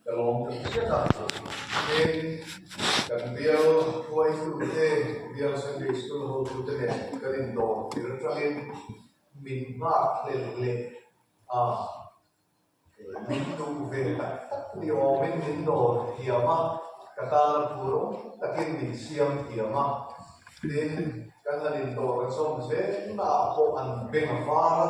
Ka lawm ta hriat a, heng kan bial hruaitu te, bial Sunday School hotu te nen kan indawr tir aṭangin min nghak hlel leh a, min duh ve tak tak ni awmin min dawr thiam a, ka tana phu rawng takin min siam thiam a, tin kan han indawr a chawm zel naah pawh an beng a var a.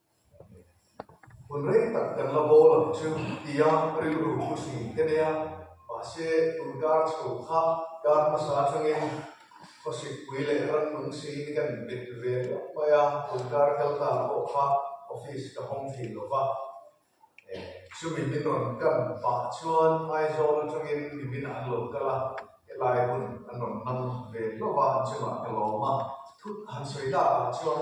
Hun reng tak kan la bâwl ang chu, tia rilru pu Sing te nia. Mahse, tun kâr chho kha kâr hmasa aṭangin khawsitpui leh rannung seini kan inbet ve luat mai a, tun kâr kal tan pawh kha office ka hawng thin lo va. Chumi min rawn kan pah chuan Aizawl aṭangin Miminah an lo kal a, helai hun an rawn hmang ve hlauh a, an chungah ka lawm a, thut han sawi lâkah chuan,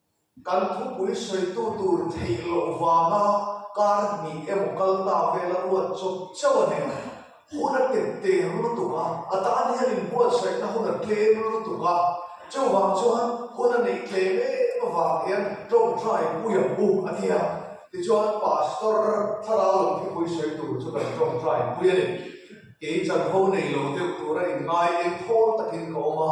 Kan thupui sawitu tur theih loh vanga kar hnih emaw kal ta vel a ruat chawp chauh a nia. Hun a tep teng lutuk a, a tan hian inbuatsaihna hun a tlem lutuk a. Chuvang chuan hun a neih tlem em avang hian tawngtai pui ang bu a nia. Tichuan Pastor Thlarau lo thupui sawi tur chu kan tawngtai pui a ni. Kei chanho nei lo deuh tura inngai eng thawl takin ka awm a.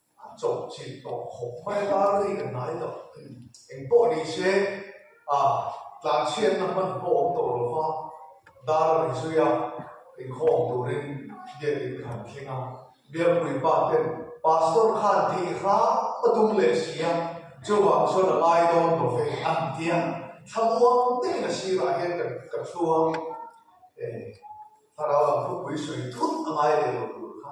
A chawh chilh tawh khawp mai a rei ka hnai lo. Eng pawh ni se a tlan chhiatna hman pawh awm tawh lo va, dar a ri zui a, inkhawm turin gate in ka han thleng a. Biapuii pa ten Pastor khan thei hrang a tum leh si a, chuvang chuan a ngai dawn lo ve an ti a, thlamuang takin a sirah hian ka ka thlu a, eh, Thlarau lam khawpui sawi thut a ngai leh lo tur kha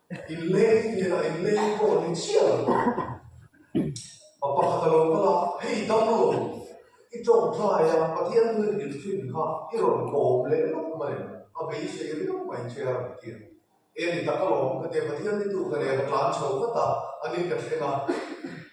In lei in nen a in lei in pawh ni chiah lo a pakhat alo kal a hei dam lo i tawk tlai a pathian hun in rin thin kha i rawn kawm leh lup mai a beisei riau mai che a rawn ti a e ni tak alawm ka ti a pathian ni duh ka nen a tlan chho vat a a nih ka thleng a.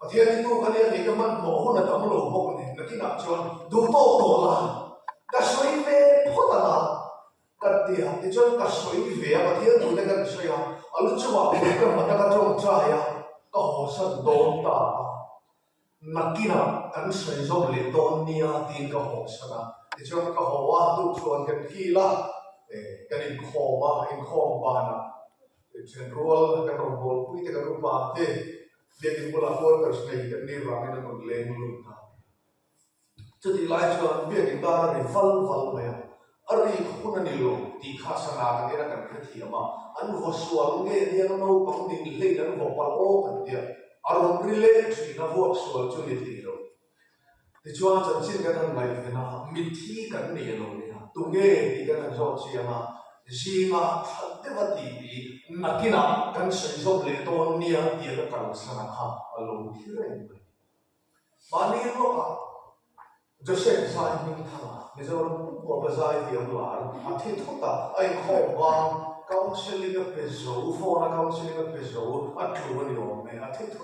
Pathian i tu ka nia tih ka hman tawh hun a tam lo bawk a ni. Ka tinah chuan duh tawk tawh la, ka sawi ve phawt a la ka ti a. Tichuan ka sawi ve a, Pathian duh te ka ti sawi a, a lu chungah pui ka hman a, ka tawng chai a, ka hawhsan dawn ta a. Nakinah kan sawi zawk leh dawn nia tiin ka hawhsan a. Tichuan ka hawh a, duhthluan kan kil a, kan inkhawm a, inkhawm banah Thisen rual a kan rawn bawl pui tek a nupa te biak in bulah quarters nei kan nih vangin an rawn leng lut ta. Chutih lai chuan biak in dar a ri val val mai a, a ri kha hun a ni lo tih kha sana kan en a kan hrethiam a, an vaw sual nge aniang naupang dinhlein an vaw palh aw kan tia, a rawn ri leh thin a vuak sual chu ni thei lo. Tichuan, chanchin kan rawn ngaihven a, mitthi kan nei a lo ni a, tunge tih ka rawn zawh chiang a, zînga ṭhat deuh a tih tih nakinah kan sawi zawk leh dawn nia tia ka kalsana kha a lo thlir em mai. Mahni ruakah Joseph zai hming thanga Mizoram pumkhawpa zai ti ang lar a thi thawt a, a inkhawm vang counselling a pe zo, phone a counselling a pe zo, a tlu a ni awm e, a thi thawt.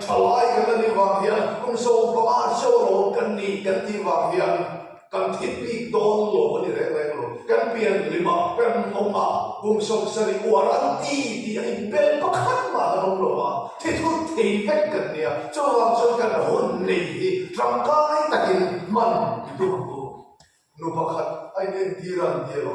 Thalai kan la nih vang hian hun zo va a cheu lo kan ni kan tih vang hian kan thit bik dawn lo a ni reng reng lo. Kan pianlim a, kan hawng a, kum sawm sarih uar an ti tih a inbel pakhat mah kan awm lo a, thithut thei vek kan nia. Chuvang chuan kan hun nei hi tangkai takin hman duh duh nu pakhat a in entir a an ti a lo.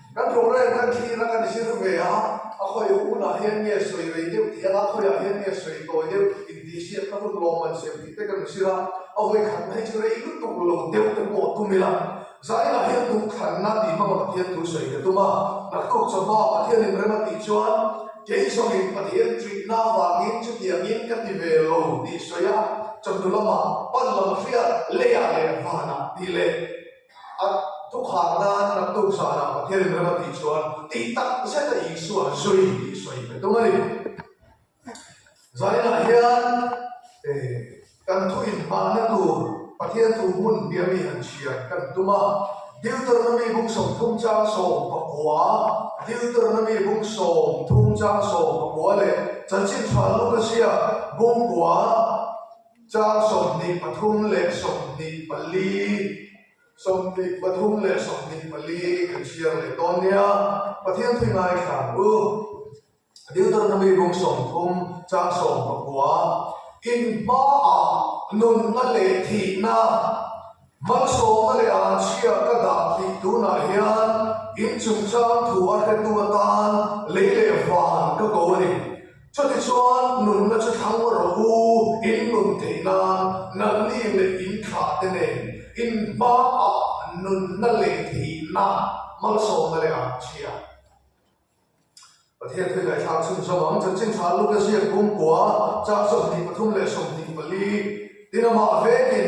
Kan rawngren kan thlir a kan hlir ve a, a khawi hunah hian nge sawi rei deuh tih a la, a khawiah hian nge sawi tawi deuh intihhriat ka hun lawm an siam tih te kan hre a, a hawi khatna hi chu rei lutuk lo deuh te pawh a tum ila, zainah hian duhkhanna tih hmanga Pathian thu sawi ka tum a, ka tluk chauhma Pathian in rem a tih chuan kei zawngin Pathian treatna avangin chutiangin ka ti ve lo tih sawi a, chawhnu lamah, pan lama hriat leiah leh vanah tih leh. A thukhâkna an rak tuk zânah Pathian in ram a tih chuan tih tak zeta Isua zui tih sawi ve dum a ni. Zainah hian kan thuinhmahna tûr Pathian thu hmun biami han chhiar kan tum a. Deuteronomy bung sawmthum châng sawm pakua, Deuteronomy bung sawmthum châng sawm pakua leh chanchin ṭha lukasia bung kua, Chang sawmhnih pathum leh sawmhnih pali, sawmhnih pathum leh sawmhnih pali kan chhiar leh dawn nia. Pathian thih ngaithla u, Deuteronomy rum sawm thum, chang sawm pakua, In hmaah nunna leh thihna. Mang sawma leh an chhia ka dah tih tunah hian inchungchang thu a hretu atan lei leh van ka ko a ni. Chuti chuan nunna chu thlang maw rawh u, in nun theih nan nalni leh in thlahte nen in hmang ah nunna leh thihna mang sawma leh an chhia. Pathian thil ngaih thlak chhun zawng ang chanchin thla luk a ziak kum kua chak sawmhnih pathum leh sawmhnih pali din amah vekin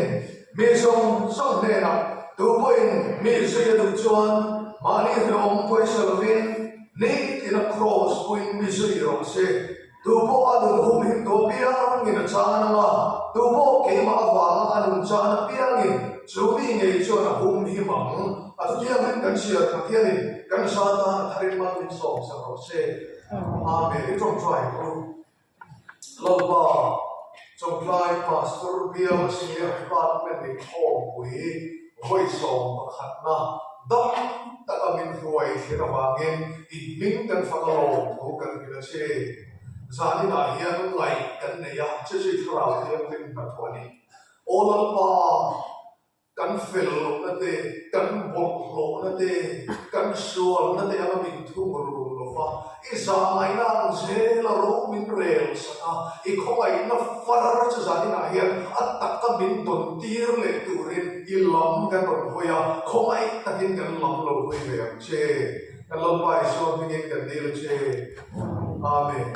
mi zawng zawng hnenah tupawhin mi zui a duh chuan mahni hlawm pawisa lovin nih tina kraws puin mi zui i rawng si. Tu pawh a nun hum him dawn bia a hming in a chang a nang a, tu pawh keimah avanga a nun chang a piang in chu mi ngei chuan a hum him ang. A thu thiang in kan hriat Pathian in kan hra tan a tharim a tui sawm sak rawh se. Amen. I tawngtai tu lo pa. Chawngtlai Pastor Biamasih an fate mitthawngpui vawisawm pakhatna dam taka min hruai thlir avangin inhming kan fak alawm thu kan hrilh a si. Zanin ah hian ngaih kan neih a, che chu i thlarau hi an rinhna thu a ni. Aw lam pa! Kan fel lohna te, kan bawlh hlawhna te, kan sualna te anga min thung run lo va, i zangaihna ang zel a ro min rel sak a, i khawngaihna far chu zaninah hian a taka min dawn tir leh turin i lam kan rawn hawi a, khawngaih takin kan lam lo hawi ve ang che. Kan Lalpa Isua hmingin kan dil che. Amen.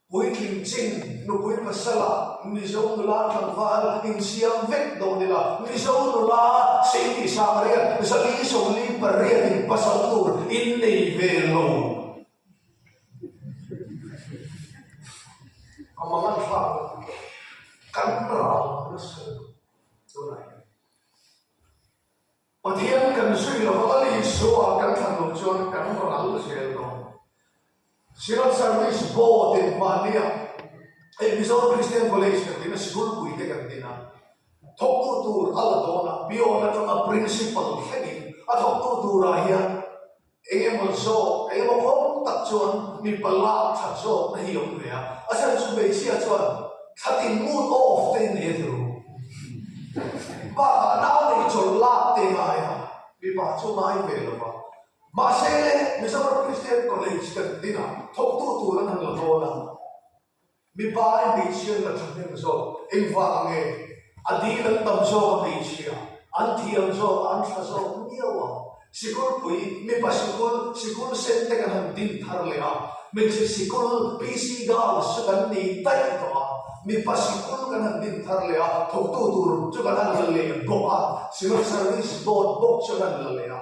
Puitling Chin, Nupui Masala, Mizo nula tlangval insiam vek dawh nila Mizo nula Sing tih sang riat Zali Sawmli pariat in pasal tur in nei ve lo. A mang a thlak kan ral nasa tunah hian. Pathian kan sawi lo a kan Isua kan thlan lo chuan kan rawn ral zel lo. Silent service bo ten mahnia Episode Christian College kan tina Sikulpui te kan tina thawktu tur a la dawn a, biawn atanga Principal thlengin a thawktu tura hian Eng emaw zawk, eng emaw kawng tak chuan mipa lak that zawk na hi a awm ve a, a then chu hmeichhia chuan thla tin mood off te in ei thei bawk. Bakah a nau nei chawlh lak te ngai a, mipa chu ngai ve lo va. Mahse, Mizoram Christian College kan dinah thawktu tur an han la ngawl a. Mipain hmeichhia an la thahnem zawk, engvah nge a dil an tam zawk a hmeichhia an thiam zawk an thla zawk miau a, sikulpui mipa sikul sikul sen te kan han din thar leh a, hmeichhe sikul PC girls chu kan nei daih tawh a, mipa sikul kan han din thar leh a, thawktu tur chu kan han la leh bawk a, Civil Service Board bawk chu kan la leh a.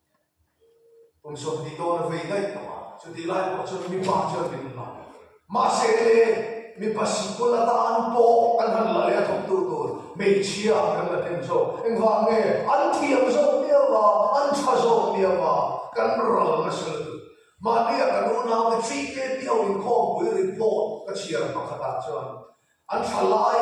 Pawmsawm tih dawn a vei daih tawh a, chuti lai pawh chuan mipa chuan min hman ta hle. Mahse, mipa sikul atan pawh kan han la leh a thawktu tur hmeichhia kan la then zawk. Engvang nge? An thiam zawk miau a, an tha zawk miau a, kan ral nasa lutuk. Mahni a kan unaute chihte piau inkhawmpui report ka chhiar pakhatah chuan an thalai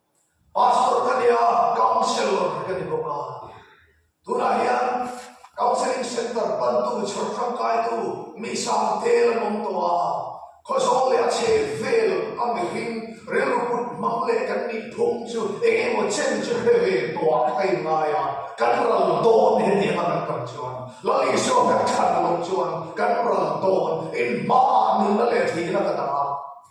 Pastor ka ni a, counsellor ka ni bawk a, tunah hian counselling centre bantu chhawr tangkaitu mi sang te la nawm tawh a, khaw zawng leh a chhe vel a mihring rilru put hmang leh kan nih phum chu eng emaw chen chu hre ve tawh a ka thei ngai a, kan ral dawn hetiang a kan tam chuan Lalisua kan than lawm chuan kan ral dawn, inhma ah nunna leh thihna ka dang a.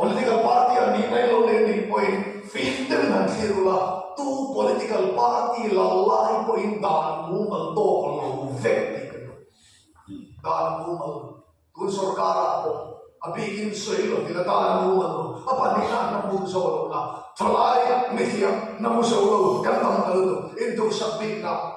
Political party a nih mai lo leh nih pawhin fim te min han thlir ula, tu political party lalai pawhin dan mumal tawk a lo vek tih ka duh. Dan mumal tun sorkara pawh a bikin sawi lovin a dan mumal lo a pahnihna an awm buk zawk a lo la, thalai mithiam na hmu zo lo kan tam ta lutuk in duhsak bikna.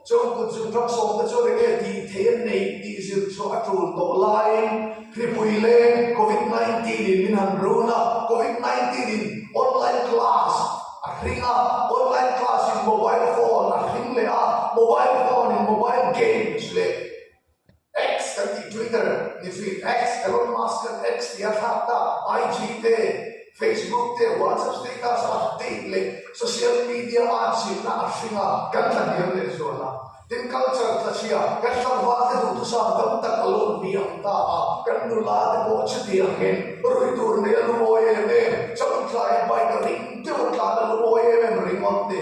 Chuan kut zir tam sawmte chu eng nge tih theih a neih tih zirchhuah a tul tawh laiin Hripui leng Covid nineteen in min han run a, Covid nineteen in online class a hring a, online class in mobile phone a hring leh a, mobile phone in mobile games leh. X kan tih Twitter ni feed X, Elon Musk kan X tia thlak ta, IG te, Facebook te, WhatsApp status a update leh social media a chimna a hring a, kan hlahniam leh zual a. Tin, culture thlachhia kan hlauhva te duhtu sang tam tak a lawm ni ang ta a, kan nula te pawh chuti angin rui tur nei a lungawi em em, chaunthlai a bike a ring deuh a tlan a lungawi em em ringawt ni.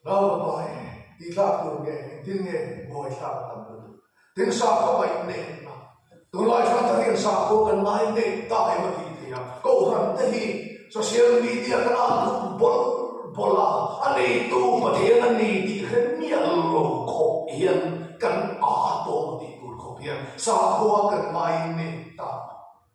Ralva pa e, tih tlak tur nge, engtin nge ngawi thlak a tam lutuk? Tin sa kha mai in nei hna. Tunlai thla ta hian sa khua kan ngai nei ta em a tih theih a. Kohhran te hi social media kan ah lut bawlh bawlh a, a neitu Pathian a ni tih kha miah lo khawp hian kan ah a tawng tih tur khawp hian sa khua kan ngai nei ta.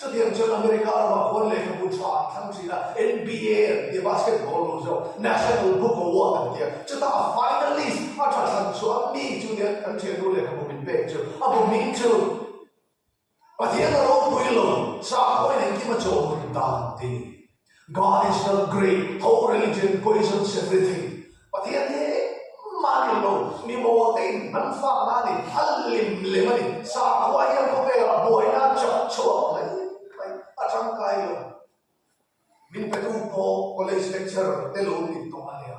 Chutiang chuan America lama khuan lehkha bu tha an thlang thin a, NBA an tia, basketball lo zawk, National Book Award an tia. Chutah a finalist a tha thlang chuan mi chu nia, kan thiannu lehkhabu min pek chu, a bu hming chu Pathian a ropui lo, sakhawiin engkim a chaw hun ta ang tih ni. Garnish lam Greek ho religion poisons everything Pathian hi engmah nen lo mi boruak te in an fak na ani a lem lem ani sakhua hian khawvel ah buai na chak chhuak mai mai a tangkai lo min petu pawh college lecturer te lo min tawng ania.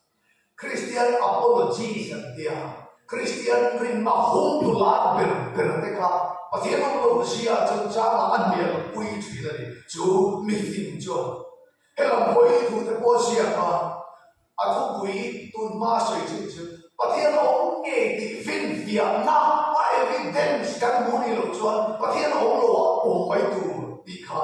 Kristian apologies an ti a, Kristian rinna hung tu lai ber ber te kha Pathian awm lo ka sia chang changah a hnial a pui thin a ni. Chu mifing chuan hela hawi thu te pawh siam a, a thupui tun hma sawi chin chu Pathian a awm nge tih finfiahna a evidence kan hmuh ni loh chuan Pathian a awm lo a pawm mai tur tih kha,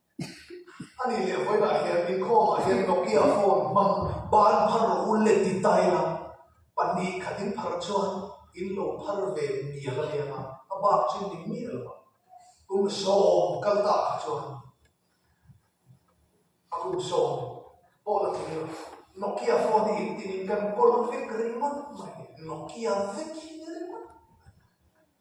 A nih leh vawilah hian inkhawmah hian Nokia phone hmang ban phar rawh u le ti dai la, pahnih khat in phar chuan in lo phar ve mial a nia a, a bak chin ning miah lo a. Kum sawm kal tak kha chuan a kum sawm pawh la thei lo. Nokia phone hi in tin in kan kawl vek ringawt mai. Nokia vek hi ringawt mai.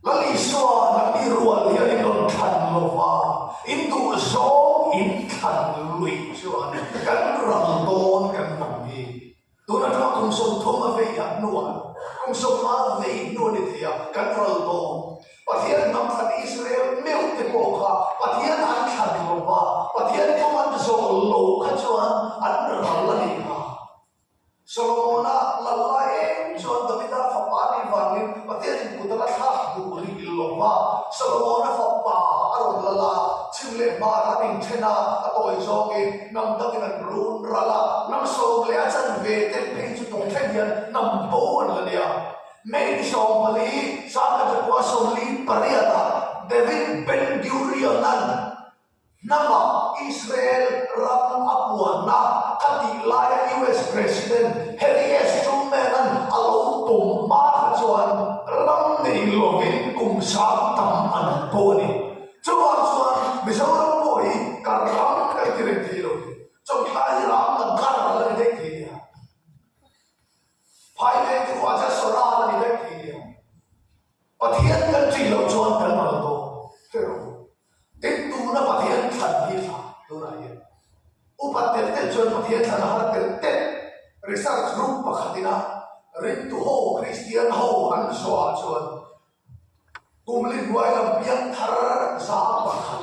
Lal Isua na mi rual hi a ni dawn than lo va, in duh zawng in thlan luih chuan kan ral dawn kan lang hi. Tun atanga kum sawm thum a vei a hnuah, kum sawm a vei hnu a ni thei a, kan ral dawn. Pathian hnam thlan Israel meuh te pawh kha Pathian an thlan lo va, Pathian tum an zawh lo kha chuan an ral a ni a. Solomona lalla eng chuan Davida fapa nih vangin Pathian input a la thlak duh rih lawm a. Solomona fapa a rawn lala chim leh hmara an inṭhena a tawi zawngin hnam takin an run ral a. Hnam sawm leh a chanve te phei chu tawng thlen hian hnam bo an la nia. May ni sawm pali Sangha Chakua sawmli pariat ah David Ben-Gurion-an Hnamah Israel ram a buatna a tih laia US President Harry S. Truman-a'n a lo pawm hma kha chuan ram neih lovin kum sang tam a nat pawh a ni. Chuvang chuan Mizoram pawh hi kar ram kan ti reng thei lo hi, chawngtlai hi ram la gar a la ni daih thei nia. Phai veng te pawh a chasawrh a la ni daih thei nia. Pathian kan tih loh chuan kan lo dawh ber u. Eng tuna Pathian thlan hi thlah tunah hian upat tel tel chuan Pathian thlan a har tel tel. Research group pakhatin a rintu ho Kristian ho an sawiah chuan Kumli hnuai lam biakthar za pakhat,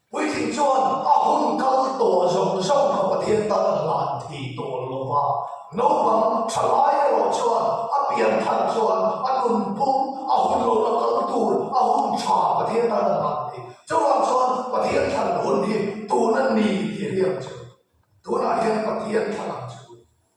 Puitling chuan a hun kal tawh zawng zawng kha Pathian tan a hlan thei tawh lo va, naupang thalai erawh chuan a pianthar chuan a nunpum a hun lo la kal tur a hun tha Pathian tan a hlan thei. Chuvang chuan Pathian thar hun hi tuna ni tih a hriat chu. Tunah hian Pathian thlang chu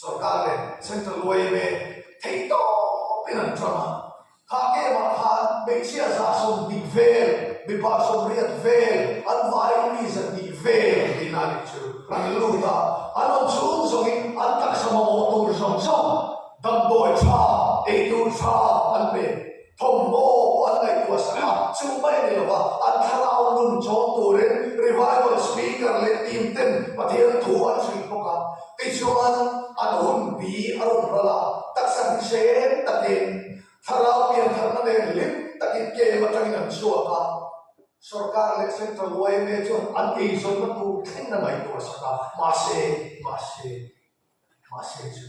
Sorkar leh Central YMA thei tawpin an ṭam a, kha game ah khan hmeichhia zahsawm dik vel, mipa sawmriat vel, an vaiin mi zat nih vel tiin a nih chu an lut a, a nun chhung zawngin an taksa mamawh tur zawng zawng damdawi ṭha, ei tur ṭha an pe. Thawmhnaw an ngaihtuah sang a, chu mai ni lova an thlarau nun chawm turin Revival speaker leh team ten Pathian thu an hrilh bawk a. Tichuan, an hun pi a rawn ral a, taksa hnihrem takin thlarau biankhatna nen hlim takin kem atangin an chhuak a. Sorkar leh Central yma chuan an eizawnna tur thleng a ngaihtuah sang a, mahse, mahse, mahse chu.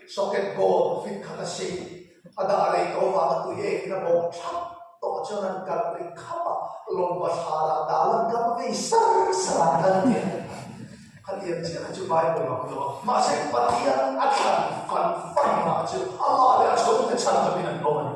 Socket gold fit khat a si. A dah lei tawh vang a tui ek in a bawm thlap tawh chuan an kalh ri khap a, lawng pathlan ah dah lan kam ngei sar sar a kal tia ka ti. Khatiang chiah kha chu Bible ah ka luah a, mahse Pathian a thlan fan fan mah chu amah leh a chhungte chhan takin an bawm a ni.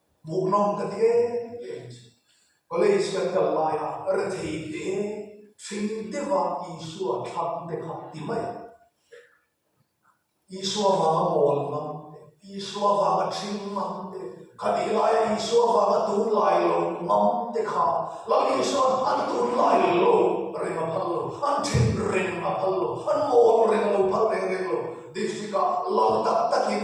Hmuhnawm ka ti e ka inchik. College kan kal laia ka re thei hle e, hring deuha Isua thlang te kha ti mai ang. Isua vanga mawl mang te, Isua vanga thring mang te, ka tih laia Isua vanga tun lai lo mang te kha lo ni chuan an tun lai lo reng a phal lo, an thring reng a phal lo, an mawl reng a lo phal reng reng lo, District-a lo tak takin,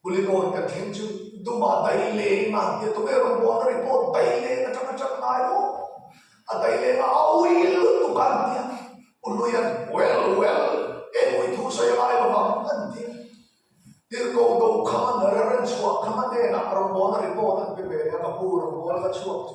Puli lawn kan thleng chu duma dai leng a tia tukei rawngbawlna report dai leng atang a ṭap ngai lo a dai leng a a ui lut tuk a an tia u luian well well eng ui thu sawi anga emaw vang a an tia tirhko do kham a na reren chhuah kham a nen a rawngbawlna report an pe ve le a ka pu rawngbawlna chhuak chu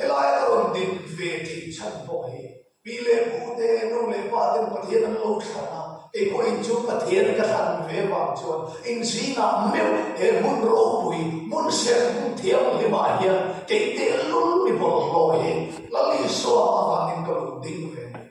Helai a rawn din ve thei chhan pawh hi pi leh pu te, nu leh pa ten Pathian an lo thlan a, keipawh in chu Pathian ka thlan ve vang chuan in zinah meuh he hmun ropui, hmun serthlum thianghlim ah hian kei tehlul mi bawrhhlawh hi lal Isua avangin ka lo ding ve a ni.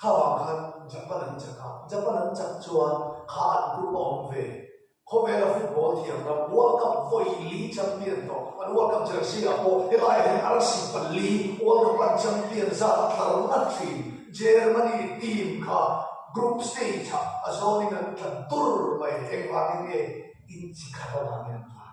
Kha vang khan Japan an chak a, Japan an chak chuan kha an group a awm ve. Khawvela football thiam lam World Cup vawili champion tawh an World Cup jersey ah pawh helaiah hian arasi pali World Cup an champion zat a tlar nghat thin. Germany team kha group stage ah a zawnin an tla dur mai engvangin nge inchi khat avangin an vai?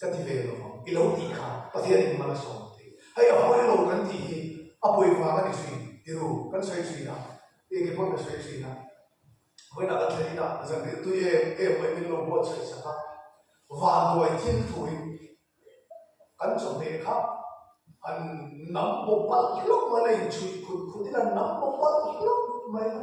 Ka ti ve lo, i lo tih kha Pathian in man a sawm thei. Hei a hawi lo kan tih hi a pawi vang a ni suin, tirhu kan sawi suin a, e keng pawh ka sawi suin a, vawiinah kan thlen ina zanrihtui e e awm e min lo buat sawi sak a, vanduai thil thu in kan chawhmeh kha an nam pawh palh hlawm mai la, in chhuih khut khut in an nam pawh palh hlawm mai la.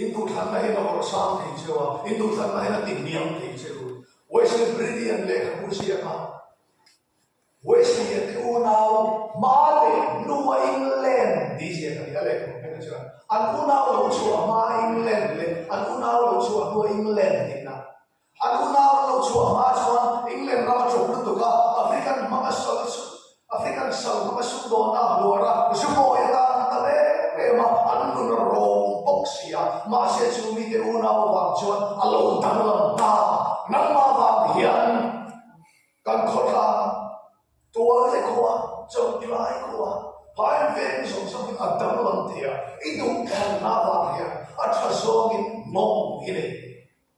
In duhthlanna hi na hawrh sang thei cheu a, in duhthlanna hi na ti hniam thei cheu. Wesley Brilliant lehkhabu ziahah Wesleyite unau hma leh hnu a England tih ziah a ni. A lehkhabu hmel ah chuan an unau lo chu a hma a England leh an unau lo chu a hnu a England tihna. A tuna rawn lo chhuah hma chuan England ram aṭawng lutuk a African hmang a sawi chu African sal hmang a suk dawn a luar a. Zubawia tan an ta ve em em a, an nun a rawng bawk si a, mahse chu mite unau avang chuan a lo danglam ta a, nangma vang hian kan khawtlang tuar te khawh a, chaw tlai khawh a, hmain veng zawng zawng in a danglam thei a, i duh thar hna vang hian a ṭha zawngin mawng i nei.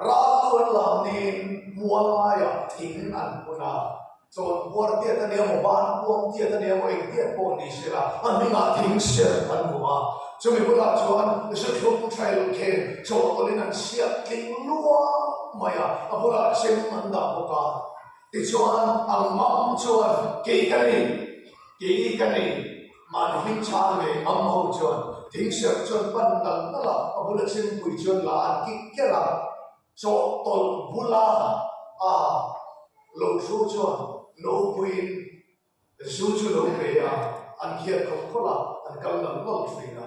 Ral tuan lam niin mual ngaiah thing an hun a, chawn buar tiat a nia maw, ban puang tiat a nia maw, eng tiat pawh ni sela a hnungah thing hriat an hmu a. Chumi bulah chuan hriatthlum trail khen chawhtawlhin an chhiat tling luang mai a, a bulah chem an dah bawk a. Tichuan, Ang Mam chuan, Kei ka ni, kei ka ni. Mahni hming chhang leh mam ho chuan ding serh chuan pan nal nal a, a bula chhimpui chuan la an kik kiar a, chawh tawlh bula a lo thu chuan naupuiin zu chu lo pe a, an khiat khawp khawp a, an kal nal nal thin a.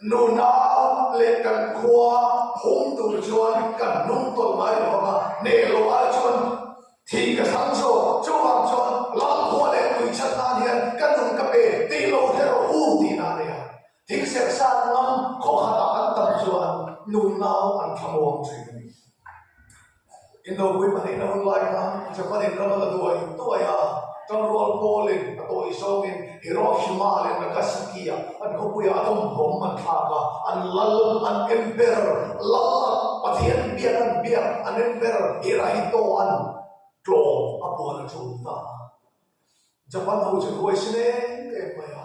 Nunau leh kan khua hum tur chuan ka hnung tawlh ngai lo vang a, Nelo ai chuan thi ka thlang zawk, chuvang chuan lal khua leh tui chhan nan hian ka nun ka pe tih lo hre rawh u ti na nei a, thing serh sat ngam khawkhatah an tam chuan Nunau an thlamuang thin a ni. Indopuii pahnih na hun lai kha i Japan in ram a la duai duai a, kan rual pawl in a tawi zawng in Hiroshima leh Nagasaki ah an khawpui ah atom bomb an thlak a, an lal an en ber, lal a Pathian in biak an biak an en ber, Hirahito an tlawm a puan a tum ta a, Japan ho chu ruai si nem em mai a.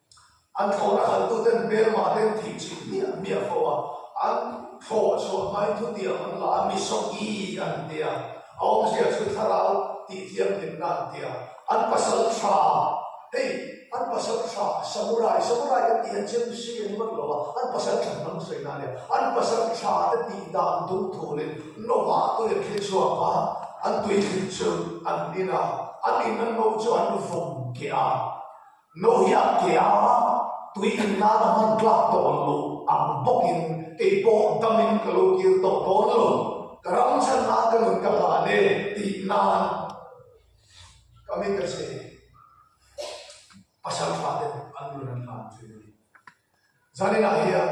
An thlawh a khaltu ten bel mah ten tih chim hi an miah fo a, an thlawh a chhuah hmain thutiang an la a, Misawng i an ti a, a awm hriat chu Thlarau tih thianghlimna an ti a, an pasal tha, hei an pasal tha Samurai, Samurai kan tih han cheu chu Sri an i mak lo a, an pasal tha hnam sawinak ania, an pasal tha te tih dan dum thul in Lawmah tui an thil chhuak a, an tui thil chu an in a, an in an moh chu an vawm kiah a. Lohiat Keaua tui in nana hman tlak tawh ang u, ang bawk in kei pawh dam in ka lo kir tawh dawn lo, ka ram chhan ah ka nun ka hlan e tih nan ka mit a che e. Pasal fate an nun an hlan thin a ni. Zanina hian